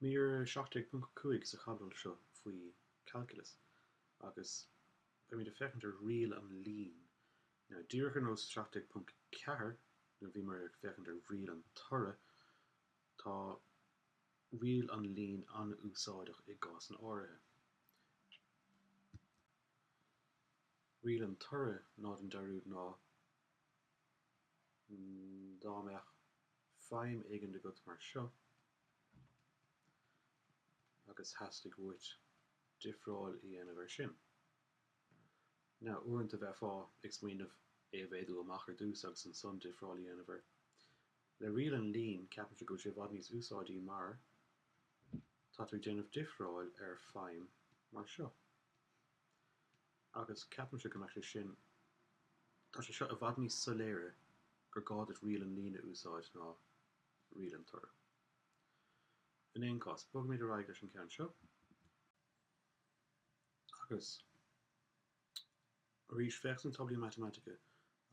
Mír 17.5 sa chaibidil seo faoi Calculus agus beimid ag féachaint ar riail an lín. Díreach ar nós 17.4 nuair a bhíomar ag féachaint ar riail an toraidh, tá riail an lín an-úsáideach i gcásanna áirithe. Riail an toraidh 0 an dearúd ná. Dá mbeadh feidhm éigin agat mar seo agus theastaigh uait difreáil a dhéanamh air sin. Now uaireanta bheifeá ag smaoineamh é a mhéadú amach ar dtús agus ansan difreáil a dhéanamh air. Le riail an lín ceapaimse go bhfuil sé i bhfad níos úsáidí mar tá tú ag déanamh difreáil ar feidhm mar seo. agus ceapaimse go mbeadh sé sin. Tá sé seo i bhfad níos soiléire gur gá duit riail an lín a úsáid ná riail an toraidh. In aon cás, bogaimid ar aghaidh leis an gceann seo agus arís féach sna táblaí matamaitice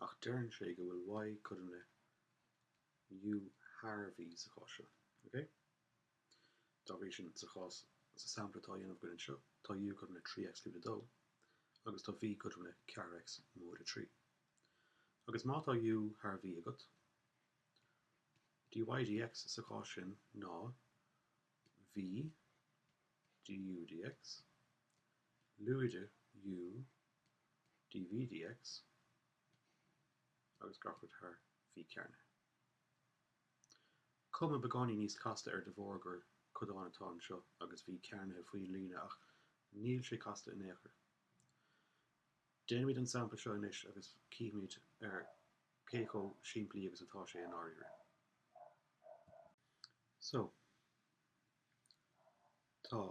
ach deireann sé go bhfuil Y cothrom le U thar V sa chás seo. Ok? Dá bhrí sin, sa chás, sa sampla atá á dhéanamh againn anseo, tá U cothrom le 3X lúide 2 agus tá V cothrom le 4X móide 3. Agus má tá U thar V agat, dy dx sa chás sin ná V du dx lúide U dV dx agus gach aon rud thar V cearnaithe. Cuma beagáinín níos casta air de bharr gur codán atá anseo agus V cearnaithe faoin líne ach níl sé casta in aon chor. Déanaimid an sampla seo anois agus cífimid cé chomh simplí agus atá sé i ndáiríre. So. Tá.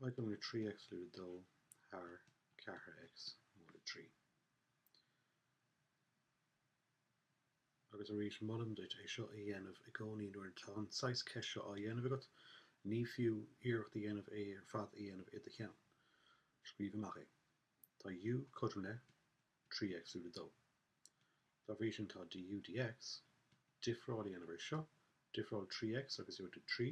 Y cothrom le 3X lúide 2 thar 4X móide 3. Agus arís, molaim duit é seo a dhéanamh i gcónaí nuair atá an saghas ceist seo á dhéanamh agat, ní fiú iarracht a dhéanamh é ar fad a dhéanamh i do cheann. Scríobh amach é. Tá U cothrom le 3X lúide 2. Dá bhrí sin tá dU dx, difreáil a dhéanamh air seo, difreáil 3X agus iarracht 3,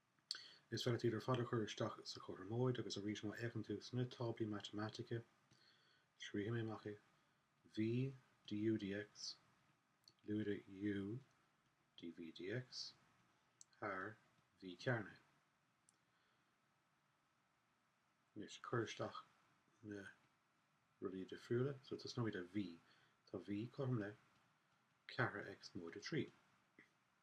Is féidir iad ar fad a chur isteach sa chothromóid agus arís má fhéachann tú sna táblaí matamaitice, scríobhfaidh mé amach é, V du dx, lúide U dV dx, thar V cearnaithe. Anois cuir isteach na rudaí difriúla. So tosnóimid le V. Tá V cothrom le ceathair x móide trí.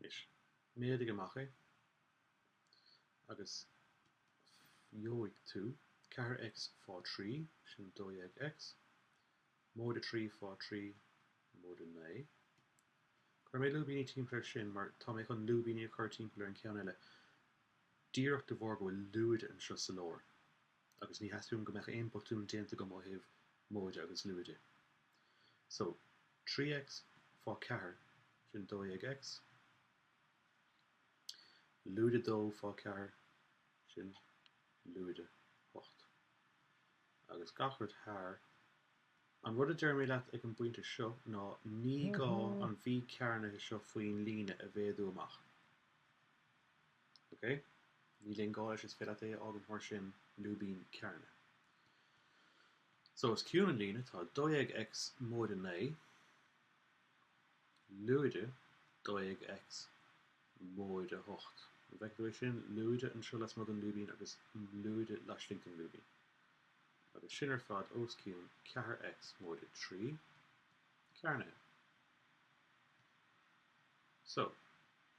Anois, méadaigh amach é agus gheobhaidh tú 4X fá 3, sin 12X, móide 3 fá 3, móide 9. Chuir mé lúibíní timpeall ar sin mar tá mé chun lúibíní a chur timpeall ar an gceann eile díreach de bharr go bhfuil lúide anseo sa lár. agus ní theastaíonn uaim go mbeadh aon botún déanta agam ó thaobh móide agus lúide. So, 3X fá cheathair, sin 12X, lúide 2 fá cheathair, sin lúide 8. Agus gach rud thar. An rud a deirim leat ag an bpointe seo ná ní gá an V cearnaithe seo faoin líne a mhéadú amach. OK. Níl aon ghá leis, is féidir leat é a fhágaint mar sin, lúibín cearnaithe. So, os cionn an líne tá 12X móide 9, lúide 12X móide 8. An bhfeiceann tú é sin? Lúide anseo lasmuigh den lúibín agus lúide laistigh den lúibín. Agus sin ar fad os cionn 4X móide 3, cearnaithe. So,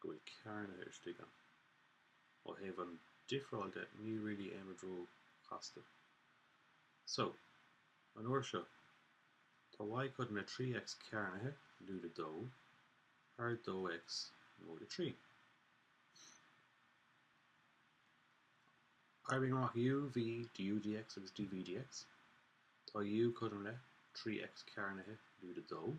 go bhfuil cearnaithe istigh ann. Ó thaobh an difreáil de níl really aon rud ró chasta. So, an uair seo, tá Y cothrom le 3 X cearnaithe, lúide 2, thar 2 X móide 3. Oibrigh amach U, V, DU dx agus DV dx. Tá U cothrom le, 3 X cearnaithe, lúide 2.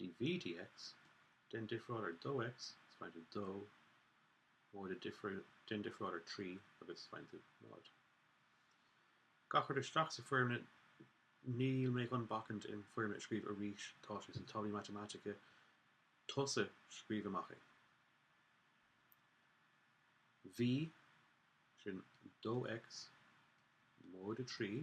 dv dx, déan difreáil ar 2x, is faigheann tú 2, móide, déan difreáil ar 3 agus faigheann tú 0. Gach rud isteach sa foirmle Níl mé chun bacaint leis an foirmle a scríobh arís, tá sé sna táblaí matamaitice, tusa scríobh amach é. V, sin 2x, móide 3.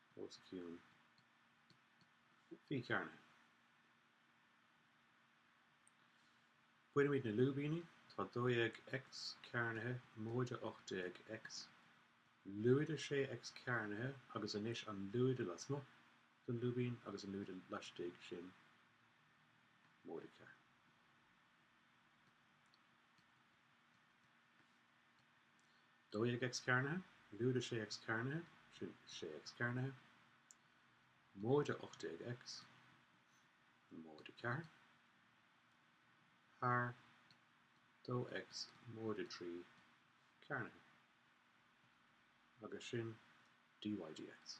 os cionn V cearnaithe. Bainimid na lúibíní, tá 12X cearnaithe móide 18X, lúide 6X cearnaithe agus anois an lúide lasmuigh den lúibín agus an lúide laistigh sin móide ceathair. 12 X cearnaithe, lúide 6 X cearnaithe, sin 6 X cearnaithe, móide 18 X, móide ceathair, thar, dó X móide trí cearnaithe, agus sin dy dx.